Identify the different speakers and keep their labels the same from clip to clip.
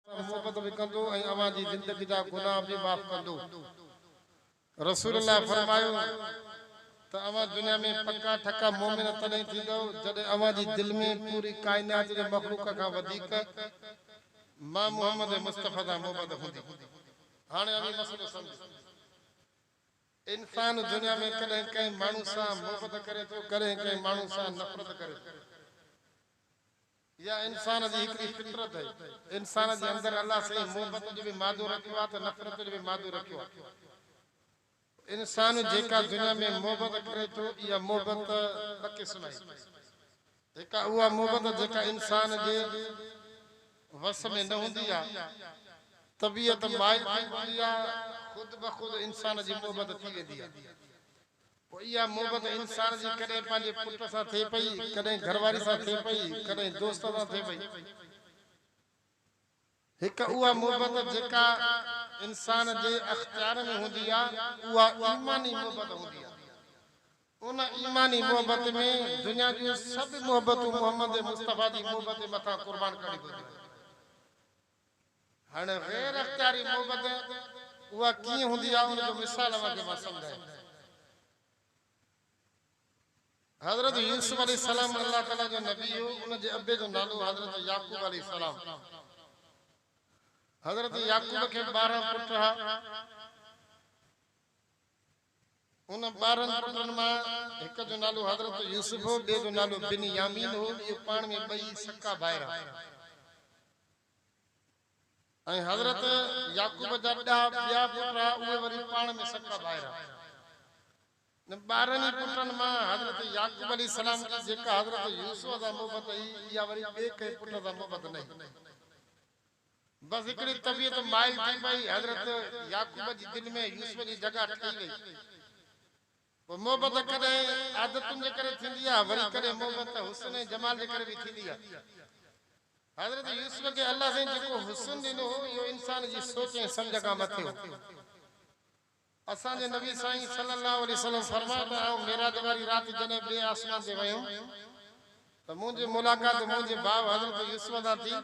Speaker 1: سان محبت به ڪندو ۽ اوهان جي زندگي جا گناهه به معاف ڪندو. رسول الله فرمايو ته اوهان دنيا ۾ پڪا ٺڪا مؤمن تڏهن ٿيندؤ جڏهن اوهان جي دل ۾ پوري ڪائنات جي مخلوق کان وڌيڪ مان محمد مصطفيٰ سان محبت هوندي. هاڻي اوهين مسئلو سمجهو. انسان دنيا ۾ ڪڏهن ڪنهن ماڻهو سان محبت ڪري ٿو ڪڏهن ڪنهن ماڻهو سان نفرت ڪري ٿو. اها انسان جي هڪڙي فطرت آهي. انسان جي اندر الله سائين محبت جو به مادو رکيو آهي ته نفرت جو به مادو رکيو آهي. انسان جيڪا دنيا ۾ محبت ڪري ٿو اها محبت ٻه قسم آهي. هڪ آهي اها محبت جيڪا انسان جي وس ۾ نه هوندي آهي. طبيعت مائل ٿي پوندي آهي خود بخود انسان جي محبت ٿي ويندي آهي. پوء اها محبت انسان جي ڪڏهن پنهنجي پٽ سان ٿئي پئي، ڪڏهن گهر واري سان ٿئي پئي، ڪڏهن دوست سان ٿئي پئي. هڪ اها محبت جيڪا انسان جي اختيار ۾ هوندي آهي، اها ايماني محبت هوندي آهي. ان ايماني محبت ۾ دنيا جون سڀ محبتون محمد مصطفيٰ جي محبت مٿان قربان ڪرڻيون پونديون آهن. هاڻي غير اختياري محبت اها ڪيئن هوندي آهي ان جو مثال اوهان کي مان سمجهايان ٿو. حضرت يوسف عليه السلام الله تعالي جو نبي هو ان جي ابي جو نالو حضرت يعقوب عليه السلام هو. حضرت يعقوب کي ٻارهن پٽ ها. ان ٻارهن پٽن مان هڪ جو نالو حضرت يوسف هو، ٻئي جو نالو بن يامين هو، اهي پاڻ ۾ ٻئي سڪا ڀائر هئا ۽ حضرت يعقوب جا ڏهه ٻيا پٽ رها، اهي وري پاڻ ۾ سڪا ڀائر هئا. انهن ٻارهن ئي پٽن مان حضرت يعقوب عليه السلام کي جيڪا حضرت يوسف سان محبت هئي، اها وري ٻئي ڪنهن پٽ سان محبت نه هئي. بس هڪڙي طبيعت مائل ٿي پئي، حضرت يعقوب جي دل ۾ يوسف جي جڳهه ٺهي وئي. پوء محبت ڪڏهن عادتن جي ڪري ٿيندي آهي، وري ڪڏهن محبت حسن ۽ جمال جي ڪري به ٿيندي آهي. حضرت يوسف کي الله سائين جيڪو حسن ڏنو هو، اهو انسان جي سوچ ۽ سمجهه کان مٿي هو. اسان جي نبي سائين صلي الله عليه وسلم فرمايو ته آئون معراج واري رات جڏهن ٻئي آسمان تي ويم ته منهنجي ملاقات منهنجي ڀاء حضرت يوسف سان ٿي.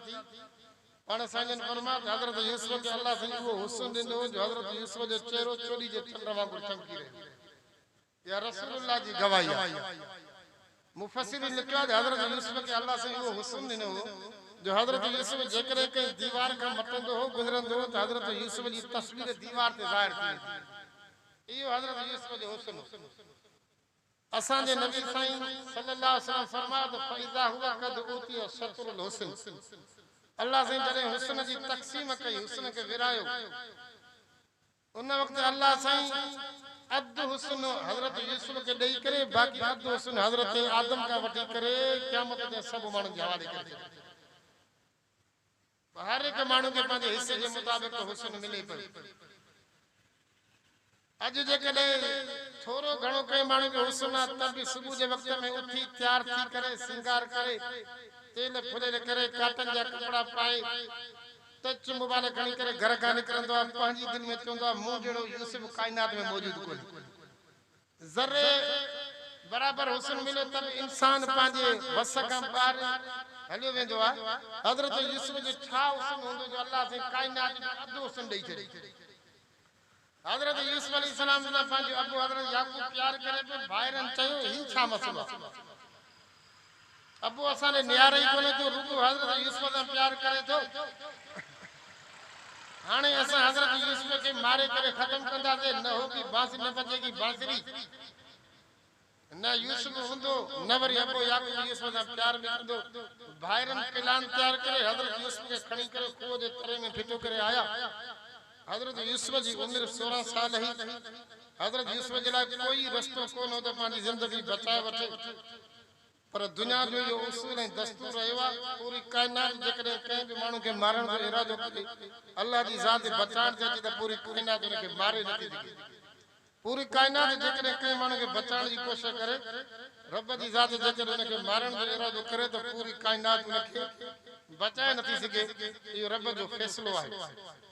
Speaker 1: پاڻ سائين جن فرمايو ته حضرت يوسف کي الله سائين اهو حسن ڏنو جو حضرت يوسف جو چهرو چوڏي جي چنڊ وانگر چمڪي رهيو. يا رسول الله جي گواهي آهي. مفسرين لکيو آهي ته حضرت يوسف کي الله سائين اهو حسن ڏنو هو جو حضرت يوسف جيڪڏهن ڪنهن ديوار کان مٽندو هو گذرندو هو ته حضرت يوسف جي تصوير ديوار تي ظاهر ٿي ويندي هئي. اهو حضرت يوسف جو حسن هو. اسان جي نبي سائين صلي الله عليه وسلم فرمايو ته فاذا هو قد اوتي شطر الحسن الله سائين جڏهن حسن جي تقسيم ڪئي حسن کي ورهايو ان وقت الله سائين اڌ حسن حضرت يوسف کي ڏئي ڪري باقي اڌ حسن حضرت آدم کان وٺي ڪري قيامت تائين سڀ ماڻهن جي حوالي ڪري ڇڏيو ته هر هڪ ماڻهو کي پنهنجي حصي جي مطابق حسن ملي پيو اڄ جيڪڏهن ٿورو گهڻو ڪنهن ماڻهو کي حسن آ ته به صبح جي وقت ۾ اٿي تيار ٿي ڪري سينگار ڪري تيل ڦليل ڪري ڪاٽن جا ڪپڙا پائي ته چنب والا گهڻي ڪري گهر کان نڪرندو آهي پنهنجي دل ۾ چوندو آهي مون جهڙو يوسف ڪائنات ۾ موجود ڪونهي ذري برابر حسن مليو ته به انسان پنهنجي وس کان ٻاهر هليو ويندو آهي حضرت يوسف جو ڇا حسن هوندو جو الله سائين ڪائنات جو اڌ حسن ڏئي ڇڏي حضرت يوسف عليه السلام سان پنهنجو ابو حضرت يعقوب پيار ڪري پيو، ڀائرن چيو، هي ڇا مسئلو آهي؟ ابو اسان ڏي نهاري ئي ڪونهي ٿو، رڳو حضرت يوسف سان پيار ڪري ٿو. هاڻي اسان حضرت يوسف کي ماري ڪري ختم ڪنداسين، نه هو گي بانسري نه بجي گي بانسري. نه يوسف هوندو، نه وري ابو يعقوب يوسف سان پيار ۾ ٿيندو. ڀائرن پلان تيار ڪري حضرت يوسف کي کڻي ڪري کوهه جي تري ۾ ڦٽو ڪري آيا. حضرت يوسف جي عمر سورهن سال هئي. حضرت يوسف جي لاء ڪوئي رستو ڪونه هو ته پنهنجي زندگي بچائي وٺي. پر دنيا جو اهو اصول ۽ دستور رهيو آهي ته پوري ڪائنات جيڪڏهن ڪنهن به ماڻهو کي مارڻ جو ارادو ڪجي، الله جي ذات بچائڻ چاهجي ته پوري ڪائنات ان کي ماري نٿي سگهي. پوري ڪائنات جيڪڏهن ڪنهن ماڻهو کي بچائڻ جي ڪوشش ڪري، رب جي ذات جيڪڏهن ان کي مارڻ جو ارادو ڪري ته پوري ڪائنات ان کي بچائي نٿي سگهي. اهو رب جو فيصلو آهي.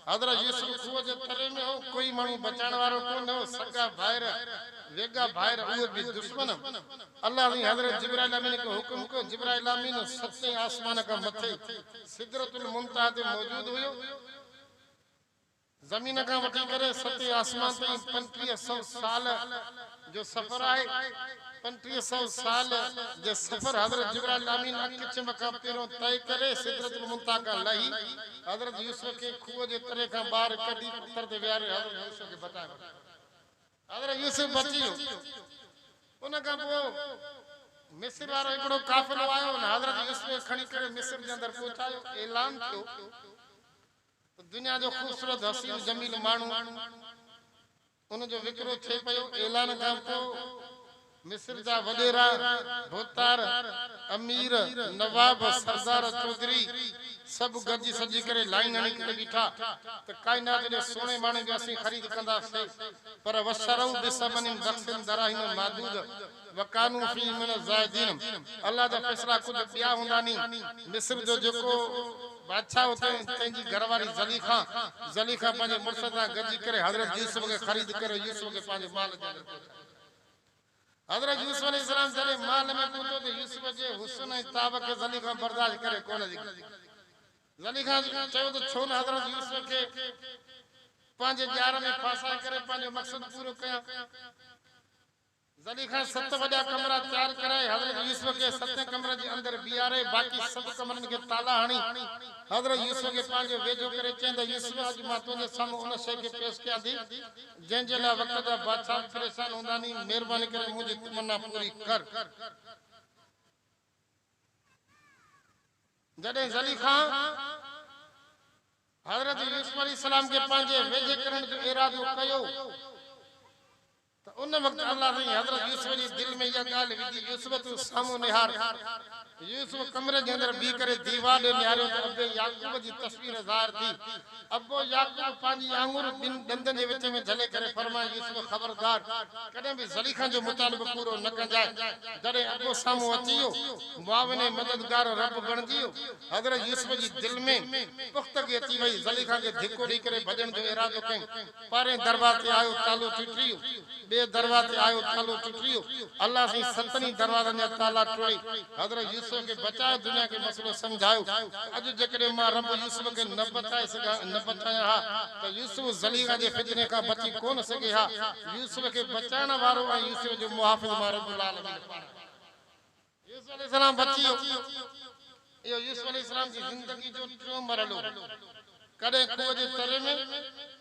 Speaker 1: حضرت يوسف کوهه جي تري ۾ هو، ڪوئي ماڻهو بچائڻ وارو ڪو نه هو، سڳا ڀائر، ويڳا ڀائر، اهي به دشمن. الله سائين حضرت جبرائيل امين کي حڪم ڪيو، جبرائيل امين ستين آسمان کان مٿي سدرة المنتهيٰ تي موجود هيو، زمين کان وٺي ڪري ستين آسمان تائين پنجٽيهه سئو سال، جو سفر آهي، پنجٽيهه سئو سال جي سفر حضرت جبرائيل الامين اک چم کان پهريون طئي ڪري سدرة المنتهيٰ کان لهي حضرت يوسف کي کوهه جي تري کان ٻاهر ڪڍي پٿر تي ويهاري حضرت يوسف کي بچائي ورتو حضرت يوسف بچي ويو ان کان پوء مصر وارو هڪڙو قافلو آيو ان حضرت يوسف کي کڻي ڪري مصر جي اندر پهچايو اعلان ٿيو ته دنيا جو خوبصورت حسين جميل ماڻهو ان جو وڪرو ٿئي پيو. اعلان کان پوء مصر جا وڏيرا، ڀوتار، امير، نواب، سردار، چوڌري سڀ گڏجي سڏجي ڪري لائين هڻي ڪري بيٺا ته ڪائنات ايڏي سهڻي ماڻي جو اسين خريد ڪنداسين پر وشروء بثمن بخس دراهم معدود. وڪانو فيه من الزاهدين الله جا فيصلا ڪجهه ٻيا هوندا ني مصر جو جيڪو بادشاهه هو تنهن تنهن جي گهر واري زليخا زليخا پنهنجي مڙس سان گڏجي ڪري حضرت يوسف کي خريد ڪري يوسف کي پنهنجي مال جي اندر پهچايو حضرت يوسف عليه السلام جڏهن مال ۾ پهتو ته يوسف جي حسن ۽ تاب کي زليخا برداشت ڪري ڪونه سگهي زليخا چيو ته ڇو نه حضرت يوسف کي پنهنجي ڄار ۾ ڦاسائي ڪري پنهنجو مقصد پورو ڪيان زليخا ست وڏا ڪمرا تيار ڪرائي حضرت يوسف کي ستين ڪمرن جي اندر بيهاري باقي سڀ ڪمرن کي تالا هڻي حضرت يوسف کي پنهنجو ويجهو ڪري چيائين ته يوسف اڄ مان تنهنجي سامهون ان شيء کي پيش ڪيان ٿي جنهن جي لاء وقت جا بادشاهه به پريشان هوندا ني مهرباني ڪري منهنجي تمنا پوري ڪر. جڏهن زليخا حضرت يوسف عليه السلام کي پنهنجي ويجهي ڪرڻ جو ارادو ڪيو. ته ان وقت الله سائين حضرت يوسف جي دل ۾ اها ڳالهه وڌي، يوسف تون سامهون نهار! يوسف ڪمري جي اندر بيهي ڪري ديوار ڏي نهاريو ته ابي يعقوب جي تصوير ظاهر ٿي. ابو يعقوب پنهنجي آڱر ٻن ڏندن جي وچ ۾ جهلي ڪري فرمائي، يوسف خبردار! ڪڏهن به زليخا جو مطالبو پورو نه ڪنجانء. جڏهن ابو سامهون اچي ويو، معاون ۽ مددگار رب بڻجي ويو. حضرت يوسف جي دل ۾ پختگي اچي وئي، زليخا کي ڌڪو ڏئي ڪري ڀڄڻ جو ارادو ڪيم. پهرين دروازي آيو تالو ٽٽريو ٻئي دروازي آيو تالو ٽٽريو الله سائين ستن ئي دروازن جا تالا ٽوڙي حضرت يوسف کي بچايو دنيا کي مسئلو سمجهايو ته اڄ جيڪڏهن مان رب يوسف کي نه بچائي سگهان نه بچايان ها ته يوسف زليخا جي فتني کان بچي ڪونه سگهي ها يوسف کي بچائڻ وارو ۽ يوسف جو محافظ مان رب العالمين پاڻ آهي. يوسف عليه السلام بچي ويو. اهو يوسف عليه السلام جي زندگي جو ٽيون مرحلو هو. ڪڏهن کوهه جي تري ۾،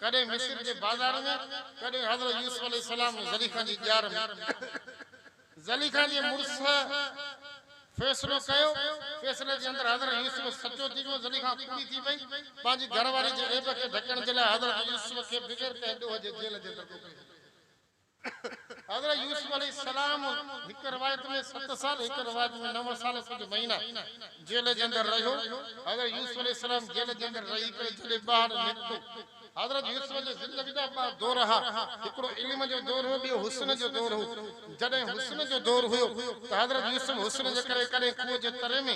Speaker 1: ڪڏهن مصر جي بازار ۾، ڪڏهن حضرت يوسف عليه السلام ۽ زليخا جي ڄار ۾. زليخا جي مڙس فيصلو ڪيو. فيصلي جي اندر حضرت يوسف سچو ٿي ويو. زليخا ڪوڙي ٿي پئي. پنهنجي گهر واري جي عيب کي ڍڪڻ جي لاء حضرت يوسف کي بغير ڪنهن ڏوهه جي جيل جي اندر موڪلي ڇڏيو. حضرت يوسف عليه السلام هڪ روايت ۾ ست سال هڪ روايت ۾ نو سال ۽ ڪجهه مهينا جيل جي اندر رهيو. حضرت يوسف عليه السلام جيل جي اندر رهي ڪري جڏهن ٻاهر نڪتو حضرت يوسف جي زندگي جا ٻه دور ها هڪڙو علم جو دور هو ٻيو حسن جو دور هو جڏهن حسن جو دور هيو ته حضرت يوسف حسن جي ڪري ڪڏهن کوهه جي تري ۾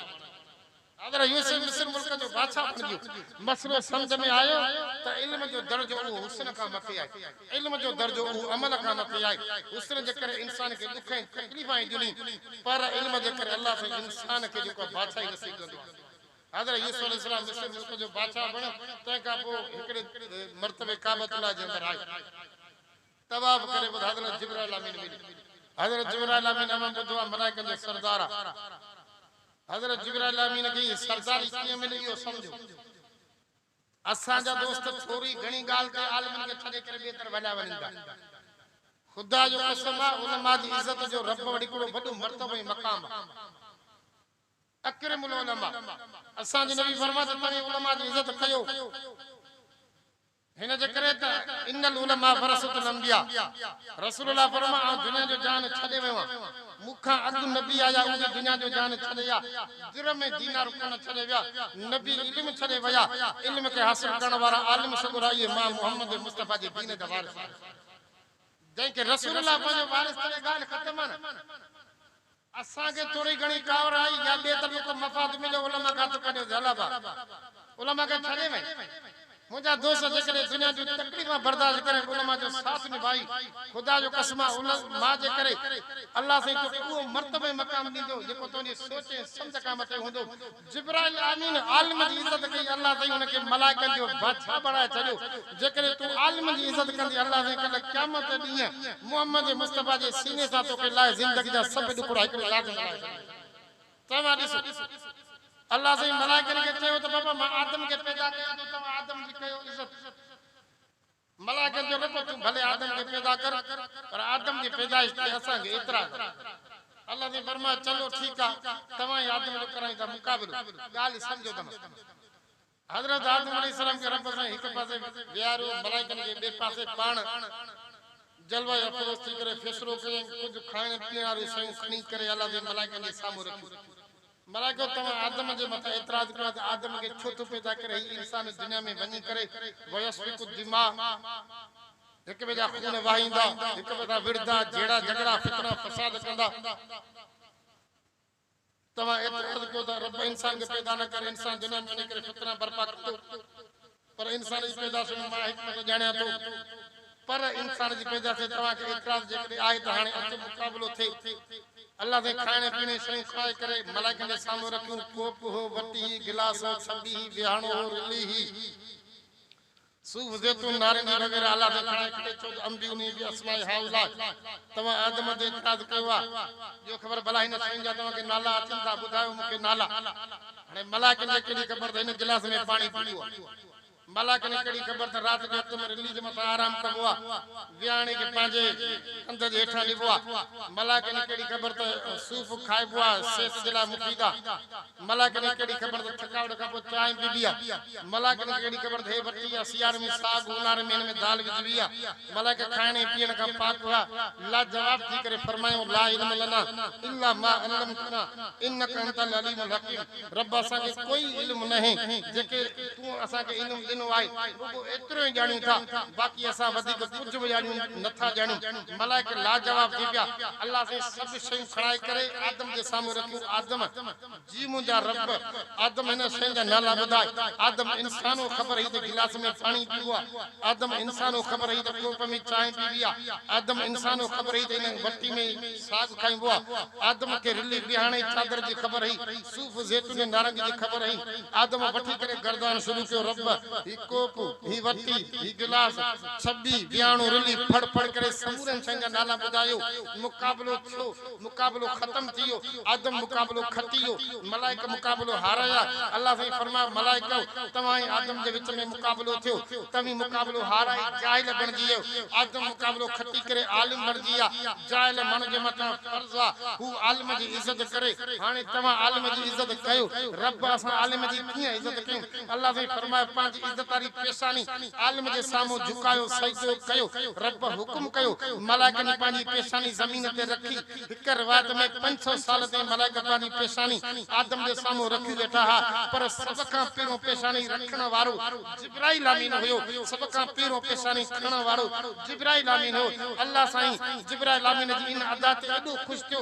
Speaker 1: حضرت يوسف مصر ملڪ جو بادشاهه بڻجيو. مسئلو سمجهه ۾ آيو ته علم جو درجو اهو حسن کان مٿي آهي. علم جو درجو اهو عمل کان مٿي آهي. حسن جي ڪري انسان کي ڏک ۽ تڪليف آهي ڏني پر علم جي ڪري الله سائين انسان کي جيڪو آهي بادشاهي نصيب ڪندو آهي. حضرت يوسف عليه السلام مصر ملڪ جو بادشاهه بڻيو تنهن کان پوء هڪڙي مرتبي ڪعبة الله جي اندر آيو. طواف ڪري ٻڌ حضرت جبرائيل امين ملي حضرت جبرائيل امين اوهان ٻڌو آهي ملائڪن جو سردار آهي حضرت جبرائيل امين کي هي سرداري ڪيئن ملي اهو سمجهو اسان جا دوست ٿوري گهڻي ڳالهه تي عالمن کي ڇڏي ڪري ٻئي طرف هليا وڃن ٿا خدا جو قسم آهي علماء جي عزت جو رب وٽ هڪڙو وڏو مرتبو ۽ مقام آهي اڪرم العلماء اسان جو نبي فرمايو ته توهين علماء جي عزت ڪيو هن جي ڪري ته ان العلماء ورثة الانبياء، رسول الله فرمايو آئون دنيا جو جهان ڇڏي ويو آهيان، مون کان اڳ نبي آيا اهي به دنيا جو جهان ڇڏي ويا، درهم ۽ دينار ڪونه ڇڏي ويا، نبي علم ڇڏي ويا، علم کي حاصل ڪرڻ وارا عالم سڳورا اهي امام محمد مصطفيٰ جي دين جا وارث آهن، جنهن کي رسول الله پنهنجو وارث ڪري ڳالهه ختم آهي نه. اسان کي ٿوري گهڻي ڪاوڙ آئي يا ٻئي طرف ڪو مفاد مليو علماء کان هٿ ڪڍيو ٿي علابا علماء کي ڇڏي وئي منهنجا دوست جيڪڏهن دنيا جون تڪليفون برداشت ڪري علماء جو ساٿ نڀائي خدا جو قسم آ ان ماء جي ڪري الله سائين توکي اهو مرتبو ۽ مقام ڏيندو جيڪو تنهنجي سوچ ۽ سمجهه کان مٿي هوندو جبرائيل آمين عالم جي عزت ڪئي الله سائين ان کي ملائڪن جو بادشاهه بڻائي ڇڏيو جيڪڏهن تون عالم جي عزت ڪندي الله سائين ڪلهه قيامت جي ڏينهن محمد مصطفي جي سيني سان توکي لاهي زندگي جا سڀ ڏکوڙا هڪڙي رات ۾ لاهي ڇڏيندا توهان ڏسو الله سائين ملائڪن کي چيو ته بابا مان آدم کي پيدا ڪيو ٿو توهان آدم جي ڪيو عزت. ملاح ڪير جو رب تون ڀلي آدم کي پيدا ڪر پر آدم جي پيدائش تي اسان کي اعتراض آهي. الله سائين فرمايو چلو ٺيڪ آ توهان ئي آدم جو ڪرايون ٿا مقابلو ڳالهه سمجهو ته نه. حضرت آدم عليه السلام کي رب سائين هڪ پاسي ويهاريو ملائڪن کي ٻئي پاسي پاڻ جلوه افروز ٿي ڪري فيصلو ڪيائين ڪجهه کائڻ پيئڻ واريون شيون کڻي ڪري الله سائين ملائڪن جي سامهون رکيون. ملائڪو توهان آدم جي مٿان اعتراض ڪيو آهي ته آدم کي ڇو ٿو پيدا ڪري هي انسان دنيا ۾ وڃي ڪري ويسفڪ الدماء هڪ ٻئي جا خون وهائيندا هڪ ٻئي سان وڙهندا جهيڙا جهڳڙا فتنا فساد ڪندا توهان اعتراض ڪيو ته رب انسان کي پيدا نه ڪري انسان دنيا ۾ وڃي ڪري فتنا برپا ڪندو پر انسان جي پيدائش ۾ مان حڪمت ڄاڻيان ٿو. پر انسان جي پيدائش تي توهان کي اعتراض جيڪڏهن آهي ته هاڻي اچو مقابلو ٿئي. الله سائين کائڻي پيڻي شيون کائي ڪري ملائڪن جي سامهون رکيون، ڪوپ هو، وٽي هئي، گلاس هو، ڇٻي هئي، ويهاڻو هو، رلي هئي، صوف، زيتون، نارنگي وغيره الله سائين کائي ڪري چئو ته انبئوني باسماء هؤلاء توهان آدم تي اعتراض ڪيو آهي. ڏيو خبر ڀلا هن شين جا توهان کي نالا اچن ٿا ٻڌايو مون کي نالا. هاڻي ملاڪن کي ڪهڙي خبر ته هن گلاس ۾ پاڻي ڪيئن هو؟ ملاڪن کي ڪهڙي خبر ته رات جو هٿ ۾ رليج مٿان آرام ڪبو آ؟ وياڻي کي پنهنجي ڪنڌ جي هيٺان نبو آ؟ ملاڪن کي ڪهڙي خبر ته صوف کائبو آ، صحت جي لاء مفيد آ؟ ملاڪن کي ڪهڙي خبر ته ٿڪاوٽ کان پوء چانهه پيبي آ؟ ملاڪن کي ڪهڙي خبر ته هي وٽي آ، سياري ۾ ساڳ، اونهاري ۾ هن ۾ دال وجهبي آ؟ ملائڪ کائڻ ۽ پيئڻ کان پاڪ هئا، لاجواب ٿي ڪري فرمايائون، لا علم لنا الا ما علمتنا انڪ انت العليم الحڪيم، رب اسان کي ڪوئي علم ناهي، جيڪي تون اسان کي علم ڏنو آهي، رڳو ايترو ئي ڄاڻيون ٿا، باقي اسان وڌيڪ ڪجهه به ڄاڻيون نه ٿا ڄاڻيون. ملائڪ لاجواب ٿي پيا، الله سائين سڀ شيون کڻائي ڪري آدم جي سامهون رکيون، آدم! جي منهنجا رب! آدم هن شيء جا نالا ٻڌائي. آدم انسان هو خبر هئي ته گلاس ۾ پاڻي پيئبو آهي. آدم انسان هو خبر هئي ته ڪوپ ۾ چانهه پيئبي آهي. آدم انسان هو خبر هئي ته هن وٽي ۾ ساڳ کائبو آهي. آدم کي رلي ٻهاڻي چادر جي خبر هئي. صوف، زيتون ۽ نارنگي جي خبر هئي. آدم وٺي ڪري گردان شروع ڪيو، رب! هي ڪوپ، هي وٽي، هي گلاس، ڇٻي، ٻهاڻو، رلي، ڦڙ ڦڙ ڪري سمورين شين جا نالا ٻڌايو. مقابلو ٿيو. مقابلو ختم ٿي ويو، آدم مقابلو کٽي ويو، ملائڪ مقابلو هارايا، الله سائين فرمايو ملائڪؤ! توهان ۽ آدم جي وچ ۾ مقابلو ٿيو، توهين مقابلو هارائي جاهل بڻجي ويو، آدم مقابلو کٽي ڪري عالم بڻجي ويا، جاهل ماڻهو جي مٿان فرض آ هو عالم جي عزت ڪري، هاڻي توهان عالم جي عزت ڪيو، رب اسان عالم جي ڪيئن عزت ڪيون، الله سائين فرمايو پنهنجي عزت واري پيشاني عالم جي سامهون جهڪايو سجدو ڪيو، رب حڪم ڪيو، ملائڪن پنهنجي پيشاني زمين تي رکي، هڪ روايت ۾ پنج سؤ سال تائين ملائڪ پنهنجي پيشاني آدم جي سامهون رکي ويٺا ها، پر سڀ کان پهريون پيشاني رکڻ وارو جبرائيل امين هيو، سڀ کان پهريون پيشاني کڻڻ وارو جبرائيل امين هيو، الله سائين جبرائيل امين جي ان ادا تي ايڏو خوش ٿيو،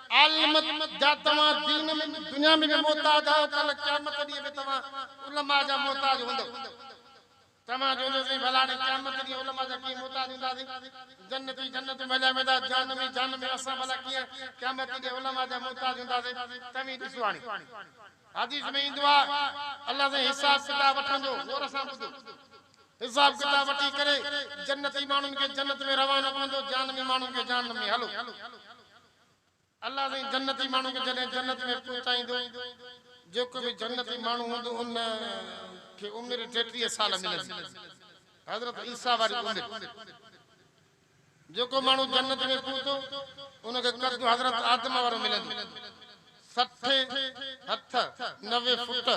Speaker 1: عالم جا توهان دين ۾ به دنيا ۾ به محتاج آهيو ڪلهه قيامت جي ڏينهن به توهان علماء جا محتاج هوندؤ توهان چوندو سائين ڀلاڙي قيامت جي ڏينهن علماء جا ڪيئن محتاج هونداسين جنتي جنت ۾ هليا ويندا جهنمي جهنم ۾ اسان ڀلا ڪيئن قيامت جي ڏينهن علماء جا محتاج هونداسين توهين ڏسو هاڻي حديث ۾ ايندو آهي الله سائين حساب ڪتاب وٺندو غور سان ٻڌو حساب ڪتاب وٺي ڪري جنتي ماڻهن کي جنت ۾ روانو ڪندو جهنمي ماڻهن کي جهنم ۾ هلو الله سائين جنتي ماڻهن کي جڏهن جنت ۾ پهچائيندو جيڪو به جنتي ماڻهو هوندو ان کي عمر ٽيٽيهه سال ملندي حضرت عيسيٰ واري عمر جيڪو ماڻهو جنت ۾ پهتو ان کي قد حضرت آدم وارو ملندو. سٺ هٿ نوي فوٽ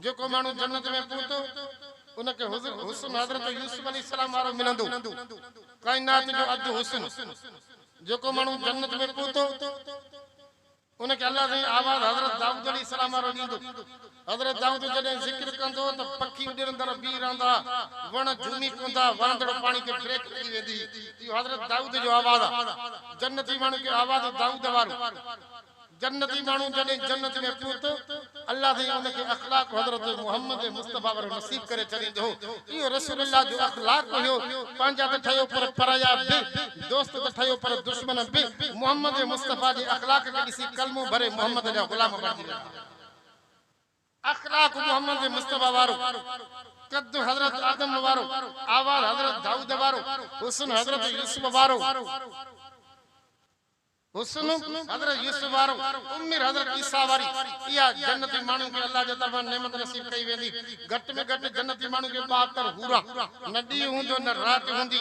Speaker 1: جيڪو ماڻهو جنت ۾ پهتو ان کي حسن حضرت يوسف عليه السلام وارو ملندو ڪائنات جو اڌ حسن جيڪو ماڻهو جنت ۾ پهتو ان کي الله سائين آواز حضرت دائود عليه السلام وارو ڏيندو. حضرت دائود جڏهن ذڪر ڪندو ته پکي اڏرندڙ بيهي رهندا، وڻ جهومي پوندا، وهندڙ پاڻي کي ڦريڪ لڳي ويندي، اهو حضرت دائود جو آواز آ. جنتي ماڻهن کي آواز دائود وارو. جنتي ماڻهو جڏهن جنت ۾ پهتو، الله سائين ان کي اخلاق حضرت محمد مصطفيٰ وارو نصيب ڪري ڇڏيندو هو. اهو رسول الله جو اخلاق هيو، پنهنجا ته ٺهيو پر پرايا به، دوست ته ٺهيو پر دشمن به محمد مصطفيٰ جي اخلاق کي ڏسي ڪلمو ڀري محمد جا غلام بڻجي ويندا. اخلاق محمد مصطفيٰ وارو، قد حضرت آدم وارو، آواز حضرت دائود وارو، حسن حضرت يوسف وارو، حسن حضرت يوسف وارو، عمر حضرت عيسيٰ واري، اها جنتي ماڻهن کي الله جي طرفان نعمت نصيب ڪئي ويندي، گهٽ ۾ گهٽ جنتي ماڻهن کي ٻاهتر حوران، نه ڏينهن هوندو نه رات هوندي.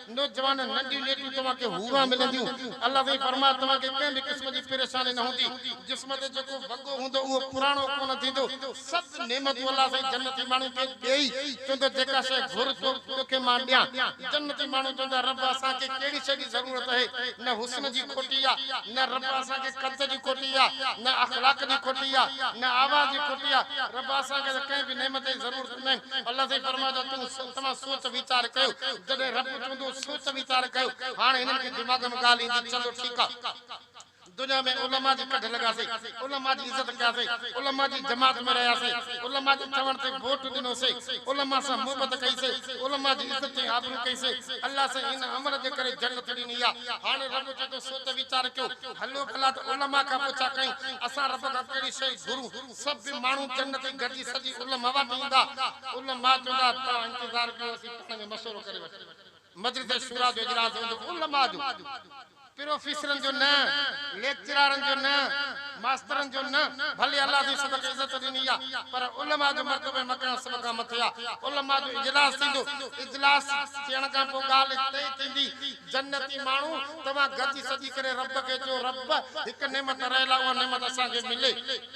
Speaker 1: نوجوانن ننڍيون نيڪيون توهان کي حوران ملنديون. الله سائين فرمايو توهان کي ڪنهن به قسم جي پريشاني نه هوندي. جسم تي جيڪو وڳو هوندو اهو پراڻو ڪونه ٿيندو. سڀ نعمتون الله سائين جنتي ماڻهن کي ڏئي چوندو جيڪا شيء گهر توکي مان ڏيان. جنتي ماڻهو چوندا رب اسان کي ڪهڙي شيء جي ضرورت اهي. نه حسن جي کوٽي آ نه رب اسان کي قد جي کوٽي آ نه اخلاق جي کوٽي آ نه آواز جي کوٽي آ رب اسان کي ته ڪنهن به نعمت جي ضرورت ڪيائين. الله سائين فرمايو ته تون توهان سوچ ويچار ڪيو. جڏهن رب چوندو سوچ ويچار ڪيو. هاڻ هنن کي دماغ ۾ ڳالهه ايندي چلو ٺيڪ آ. دنيا ۾ علماء جي ڪڍ لڳاسين، علماء جي عزت ڪياسين، علماء جي جماعت ۾ رهياسين، علماء جي چوڻ تي ووٽ ڏنوسين، علماء سان محبت ڪئيسين، علماء جي عزت ۽ آبرو ڪئيسين، الله سائين هن عمل جي ڪري جنت ڏني آ. هاڻ رب چوندو سوچ ويچار ڪيو. هلو ڀلا ته علماء کان پڇا ڪيون اسان رب کان ڪهڙي شيء گهرون. سڀ ماڻهو جنتي گڏجي سڄي علماء وٽ ايندا. علماء چوندا ته توهان انتظار ڪيو اسين پاڻ ۾ مشورو ڪري وٺون. مجلس شوريٰ جو اجلاس هوندو علماء جو. پروفيسرن جو نه، ليڪچرارن جو نه، ماسترن جو نه، ڀلي الله سائين سڀ کي عزت ڏني آ پر علماء جو مرتبو ۽ مقام سڀ کان مٿي آ. علماء جو اجلاس ٿيندو. اجلاس ٿيڻ کان پوء ڳالهه طئي ٿيندي. جنتي ماڻهو. توهان گڏجي سڏي ڪري رب کي چئو رب هڪ نعمت رهيل آهي اها نعمت اسان کي ملي.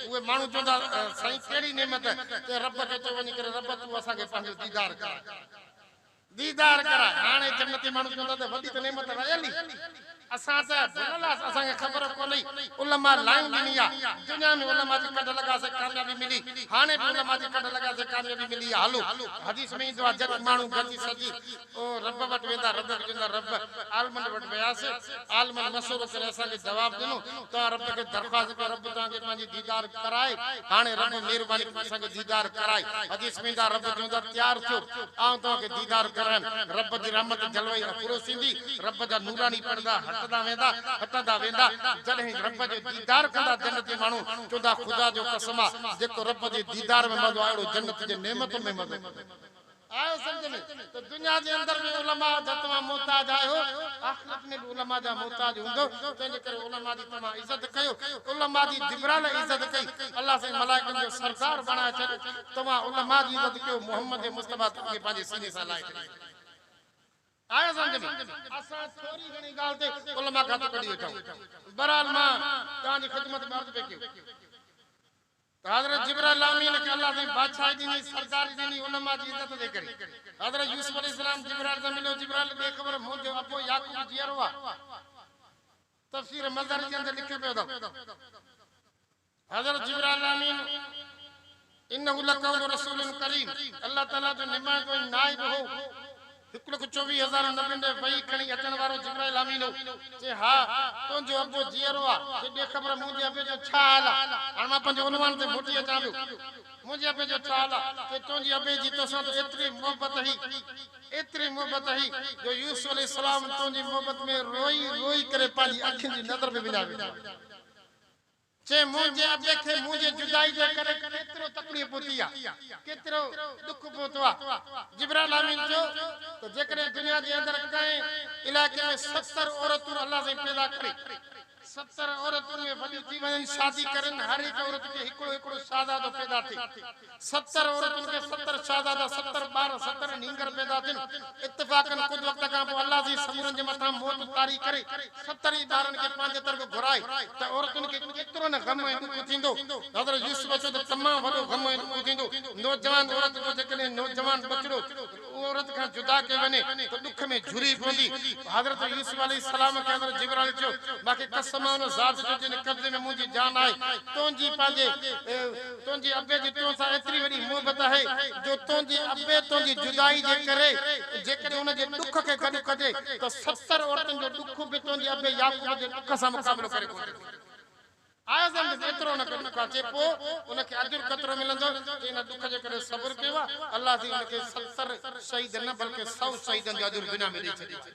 Speaker 1: اهي ماڻهو چوندا سائين ڪهڙي نعمت؟ چئه رب کي چئو وڃي ڪري رب تون اسان کي پنهنجو ديدار ڪراء. ديدار ڪراء. هاڻي جنتي ماڻهو چوندا ته وڏي ته نعمت رهيل ئي اسان ته ڀليل آس اسان کي خبر ڪونهي علماء لائين ڏني آ دنيا ۾ علماء جي ڪڍ لڳاسي ڪاميابي ملي هاڻي به علماء جي ڪڍ لڳاسي ڪاميابي ملي آ هلو حديث ۾ ايندو آ جڏهن ماڻهو گڏجي سڏي او رب وٽ ويندا ردت ڏيندا رب عالمن وٽ وياسي عالمن مشورو ڪري اسان کي جواب ڏنو توهان رب کي درخواست ڪيو رب توهان کي پنهنجي ديدار ڪرائي هاڻي رب مهرباني ڪري اسان کي ديدار ڪرائي حديث ۾ ايندا رب چوندا تيار ٿيو آئون توهان کي ديدار ڪرايم رب جي رحمت جلوي افروز ٿيندي رب جا نوراني پڙدا هٽندا ويندا هٽندا ويندا جڏهن رب جو ديدار ڪندا جنتي ماڻهو چوندا خدا جو قسم آ جيڪو رب جي ديدار ۾ مزو آ اهڙو جنت جي نعمتن ۾ مزو آهيو سمجهه ۾ ته دنيا جي اندر به علماء جا توهان محتاج آهيو، آخرت ۾ به علماء جا محتاج هوندؤ، تنهن جي ڪري علماء جي توهان عزت ڪيو، علماء جي جبرائيل عزت ڪئي، الله سائين ملائڪن جو سردار بڻائي ڇڏيو، توهان علماء جي عزت ڪيو، محمد مصطفيٰ توهان کي پنهنجي سيني سان لائي ڇڏيو. آهيو سمجهه ۾؟ اسان ٿوري گهڻي ڳالهه تي علماء کاتو ڪڍي ويٺا آهيون. بهرحال مان توهان جي خدمت ۾ عرض پئي ڪيو. ته حضرت جبرائيل امين کي الله سائين بادشاهي ڏني، سرداري ڏني، علماء جي عزت جي ڪري. حضرت يوسف عليه السلام جبرائيل سان مليو، جبرائيل بي خبر مون جو ابو يعقوب جيئرو آهي. تفسير مظهري جي اندر لکيو پيو اٿو حضرت جبرائيل امين انه لقول رسول ڪريم الله تعالي جو نمائندو ۽ نائب هو. هڪ لک چوويهه هزار نبين ڏي وحي کڻي اچڻ وارو جبرائيل امين هو. چي، ها، تنهنجو ابو جيئرو آ. چي، ڏي خبر منهنجي ابي جو ڇا حال آ. هاڻ مان پنهنجي عنوان تي موٽي اچان پيو. منهنجي ابي جو ڇا حال آ؟ چي، تنهنجي ابي جي توسان ته ايتري محبت هئي، ايتري محبت هئي، جو يوسف عليه السلام تنهنجي محبت ۾ روئي روئي ڪري پنهنجي اکين جي نظر به وڃائي ويٺو. چي منهنجي ابي کي منهنجي جدائي جي ڪري ڪيترو تڪڙيء پهتي آ، ڪيترو ڏک پهتو آ. جبرائيل آمين چيو ته جيڪڏهن دنيا جي اندر ڪنهن علائقي ۾ ستر عورتون الله سائين پيدا ڪري، ستر عورتون اهي وڏيون ٿي وڃن، شادي ڪرن، هر هڪ عورت کي هڪڙو هڪڙو شاهزادو پيدا ٿئي. ستر عورتن کي ستر شهزادا، ستر ٻار، ستر نينگر پيدا ٿين. اتفاقن ڪجهه وقت کان پوء الله عزيز سمورن جي مٿان موت طاري ڪري، ستر ئي ٻارن کي پنهنجي طرف گهرائي ته عورتن کي ڪيترو نه غم ۽ ڏک ٿيندو. حضرت يوسف چيو ته تمام وڏو غم ۽ ڏک ٿيندو. نوجوان عورت جو جيڪڏهن نوجوان ٻچڙو. اها عورت کان جدا ڪئي وڃي ته ڏک ۾ جهري پوندي. حضرت يوسف عليه السلام کي حضرت جبرائيل چيو، مان کي قسم آهي ان ذات جو جنهن جي قبضي ۾ منهنجي جان آهي، تنهنجي پنهنجي، تنهنجي ابي جي تو سان ايتري وڏي محبت آهي جو تنهنجي ابي تنهنجي جدائي جي ڪري جيڪڏهن ان جي ڏک کي گڏ ڪجي ته ستر عورتن جو ڏک به تنهنجي ابي يعقوب جي ڏک سان مقابلو ڪري ڪونه سگهندو. اعظم به ايترو نه ڪڍيو ڪا چي پوء ان کي اجر ڪيترو ملندو جي ان ڏک جي ڪري صبر ڪيو آهي الله جي ان کي ستر شهيدن نه بلڪه سؤ شهيدن جو اجر دنيا ۾ ڏئي ڇڏيو آهي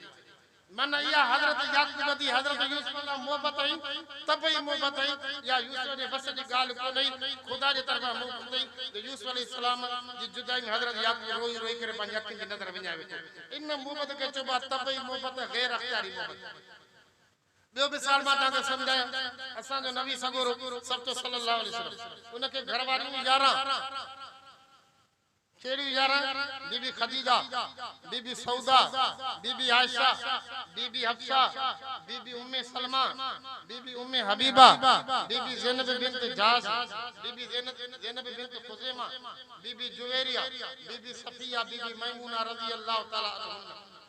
Speaker 1: معنيٰ اها حضرت يعقوب جي حضرت يوسف سان محبت ۽ طبعي محبت هئي اها يوسف جي وس جي ڳالهه ڪونه هئي خدا جي طرفان محبت هئي جو يوسف عليه السلام جي جدائي ۾ حضرت يعقوب روئي روئي ڪري پنهنجي اکين جي نظر وڃائي ويٺو ان محبت کي چئبو آهي طبعي محبت غير اختياري محبت. ٻيو مثال مان توهان کي سمجهايان، اسان جو نبي سڳورو سرچو صلّي اللّٰه عليه وسلّم، ان کي گهر واريون يارهن، ڪهڙيون يارهن؟ بي بي خديجه، بي بي سعوده، بي بي عائشه، بي بي حفصه، بي بي ام سلمه، بي بي ام حبيبه، بي بي زينب بنت جحش، بي بي زينب بنت خزيمه، بي بي جويريه، بي بي صفيه، بي بي ميمونه رضي اللّٰه تعالٰي عنهن.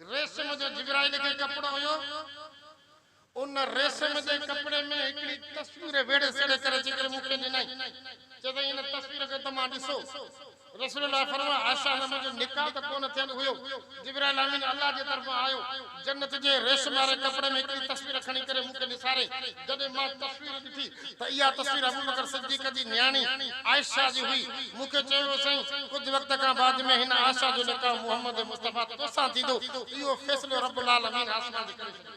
Speaker 1: ريسم جو جبرائيل کي ڪپڙو هيو، ان ريسم جي ڪپڙي ۾ هڪڙي تصوير ويڙهي سيڙهي ڪري اچي ڪري مون کي ڏنائين، چيائين هن تصوير کي ته مان ڏسو، رسول الله فرمايو عائشه سان منهنجو نڪاح ته ڪونه ٿيل هيو، جبرائيل امين الله جي طرفان آيو، جنت جي ريسم واري ڪپڙي ۾ هڪڙي تصوير کڻي ڪري مون کي ڏساريائين، جڏهن مان تصوير ڏٺي ته اها تصوير ابوبڪر صديق جي نياڻي عائشه جي هئي. مون کي چيو ويو سائين ڪجهه وقت کان بعد ۾ هن عائشه جو نڪاح محمد مصطفيٰ توسان ٿيندو. اهو فيصلو رب العالمين آسمان تي ڪري ڇڏيو.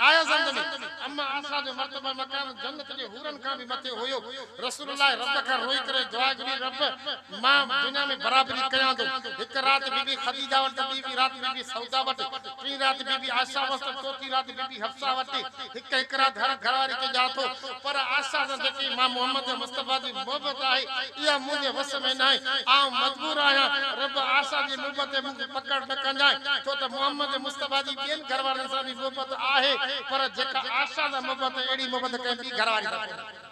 Speaker 1: ڪايا زندمي اما عائشه جو مرتبه مقام جنت جي حورن کان به مٿي هيو. رسول الله رب کان روئي ڪري دعا گهري رب مان دنيا ۾ برابري ڪيان ٿو. هڪ رات بي بي خديجه وٽ ته ٻي رات بي بي سودا وٽ. پھرين رات بي بي عائشه ھئس ته چوٿين رات بي بي حفصه وٽ، ھڪ ھڪ رات ھر گھر واري کي ڏيان ٿو، پر عائشه سان جيڪي مان محمد ۽ مصطفيٰ جي محبت آھي، اھا منھنجي وس ۾ ناھي، آئون مجبور آھيان، رب عائشه جي محبت تي مون کي پڪڙ نه ڪنجانء، ڇو ته محمد ۽ مصطفيٰ جي ٻين گھر وارن سان به محبت آھي، پر جيڪا عائشه سان محبت اھڙي محبت ڪنھن ٻي گھر واري سان ڪونھي.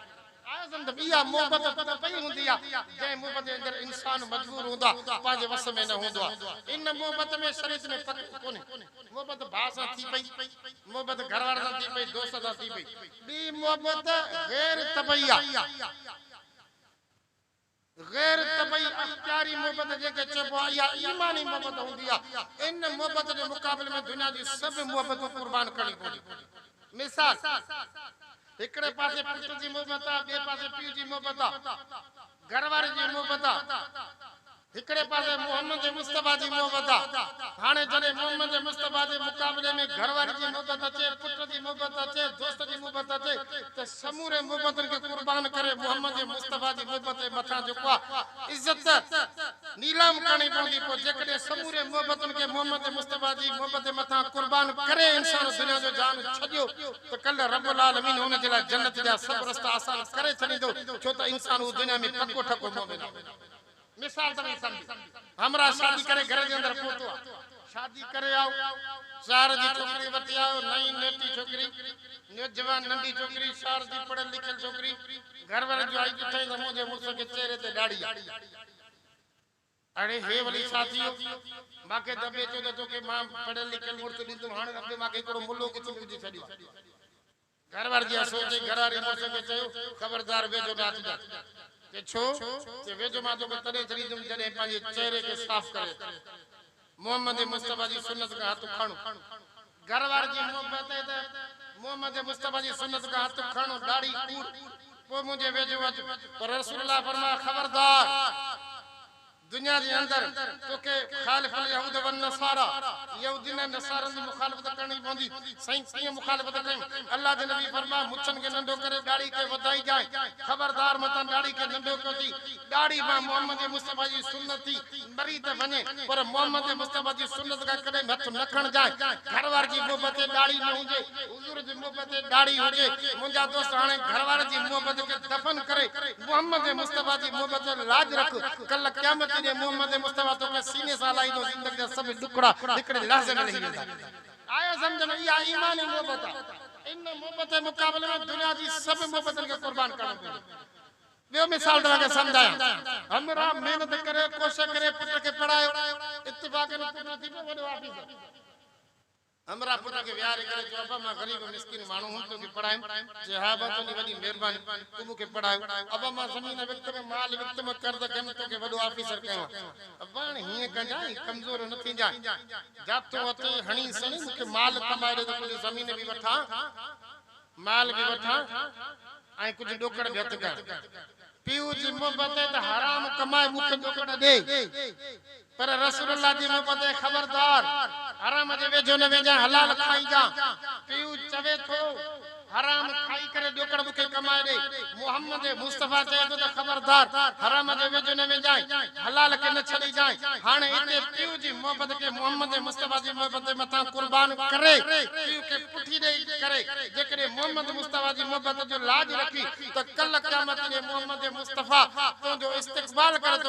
Speaker 1: آيس اندر اها محبت ته پئي هوندي آ، جنهن محبت جي اندر انسان مجبور هوندو آ، پنهنجي وس ۾ نه هوندو آ. ان محبت ۾ شريعت ۾ پڪڙ ڪونهي. محبت ڀاء سان ٿي پئي، محبت گهر وارن سان ٿي پئي، دوستن سان ٿي پئي. ٻي محبت غير طبعي آ. غير طبعي اختياري محبت جنهنکي چئبو آهي اها ايماني محبت هوندي آهي. ان محبت جي مقابلي ۾ دنيا جون سڀ محبتون قربان ڪرڻيون پونديون آهن. مثال، هڪڙي پاسي پٽ جي محبت آهي، ٻئي پاسي پيء جي محبت آهي، گهر واري جي محبت آهي. هڪڙي پاسي محمد مصطفيٰ جي محبت آ، هاڻي جڏهن محمد مصطفيٰ جي مقابلي ۾ گهر واري جي محبت اچي، پٽ جي محبت اچي، دوست جي محبت اچي ته سمورين محبتن کي قربان ڪري محمد مصطفيٰ جي محبت جي مٿان جيڪو آ عزت نيلام ڪرڻي پوندي پوء جيڪڏهن سمورين محبتن کي محمد مصطفيٰ جي محبت جي مٿان قربان ڪري انسان دنيا جو جهان ڇڏيو ته ڪلهه رب العالمين ان جي لاء جنت جا سڀ رستا آسان ڪري ڇڏيندو ڇو ته انسان اهو دنيا ۾ پڪو ٺڪو مؤمن آ. مثال توهين سمجهو همراهه شادي ڪري گهر جي اندر پهتو آ شادي ڪري آئو شهر جي ڇوڪري وٺي آيو نئين نيٽي ڇوڪري نوجوان ننڍي ڇوڪري شهر جي پڙهيل لکيل ڇوڪري گهر وارن جو آئي ڏٺائين ته منهنجي مڙس کي چهري تي ڏاڙهي آ اڙي هي ولي ڇا ٿي ويو ماکي ته اڀي چيو ته توکي مان پڙهيل لکيل مڙس ڏيندم هاڻي اڀي ماکي هڪڙو ملو ڪٿي ملجي ڇڏيو آ گهر واري جيان سو چئي، گهر واري مڙس کي چيو، خبردار ويجهو نه اچجان. چي ڇو؟ چي ويجهو مان توکي تڏهن ڇڏيندم جڏهن پنهنجي چهري کي صاف ڪري اچين. محمد مصطفيٰ جي سنت کان هٿ کڻ. گهر واري جي مون پهتائي ته محمد مصطفيٰ جي سنت کان هٿ کڻ، ڏاڙهي کوڙ، پوء منهنجي ويجهو اچ. پر رسول الله فرمايو، خبردار! دنيا جي اندر توکي خالف اليهود والنصارا، يهودين ۽ نصارن جي مخالفت ڪرڻي پوندي. سائين ڪيئن مخالفت ڪيم؟ الله جي نبي فرمايو، مڇن کي ننڍو ڪري ڏاڙهي کي وڌائي جانء. خبردار متان ڏاڙهي کي ننڍو ڪيو ٿي. ڏاڙهي مان محمد مصطفيٰ جي سنت ٿي مري ته وڃي پر محمد مصطفيٰ جي سنت کان ڪڏهن به هٿ نه کڻجانء. گهر وار جي محبت ڏاڙهي ۾ هجي. حضور جي محبت تي ڏاڙهي هجي منهنجا دوست هاڻي گهر وارن جي محبت کي دفن ڪري محمد مصطفيٰ جي محبت تي لاج رک ڪلهه قيامت جي ڏينهن محمد مصطفيٰ توکي سيني سان لاهيندو زندگي جا سڀ ڏکڙا هڪڙي لحظي ۾ لهي ويندا. آء سمجهان ٿو اها ايماني محبت آهي ان محبت جي مقابلي ۾ دنيا جي سڀ محبتن کي قربان ڪرڻو پوندو. ٻيو مثال توهان کي سمجهايان همراهه محنت ڪري ڪوشش ڪري پٽ کي پڙهايو اتفاقن پٽ ٿي پيو وڏو آفيسر همراهه پٽ کي ويهاري ڪري چيو، ابا مان غريب مسڪين ماڻهو هوم توکي پڙهايم. چيو، ها ابا تنهنجي وڏي مهرباني، تون مون کي پڙهايو. ابا مان زمين وڪتم، مال وڪتم، قرض کنيم توکي وڏو آفيسر ڪيو آهي. ابا هاڻي هيئن ڪجانء، ڪمزور نه ٿينجانء. جا تون هٿ ئي هڻي سڻي مون کي مال ڪمائي ڏي ته ڪجهه زمين به وٺان، مال به وٺان ۽ ڪجهه ڏوڪڙ به هٿ ڪيان. پيء جي محبت ته حرام ڪمائي مون کي ڏک نه ڏي پر رسول الله جي محبت اي خبردار حرام جي ويجهو نه ويجان حلال کائي جا پيء چوي ٿو حرام کائي ڪري ڏکڙ مون کي ڪمائي ڏي محمد مصطفيٰ چئي ٿو ته خبردار حرام جي ويجهو نه ويجانء حلال کي نه ڇڏي جانء هاڻي اتي پيء جي محبت کي محمد مصطفيٰ جي محبت جي مٿان قربان ڪري پيء کي پٺي ڏئي ڪري جيڪڏهن محمد مصطفيٰ جي محبت جو لاڄ رکي ته ڪل قيامت ڏينهن محمد مصطفيٰ تنهنجو استقبال ڪري ٿو.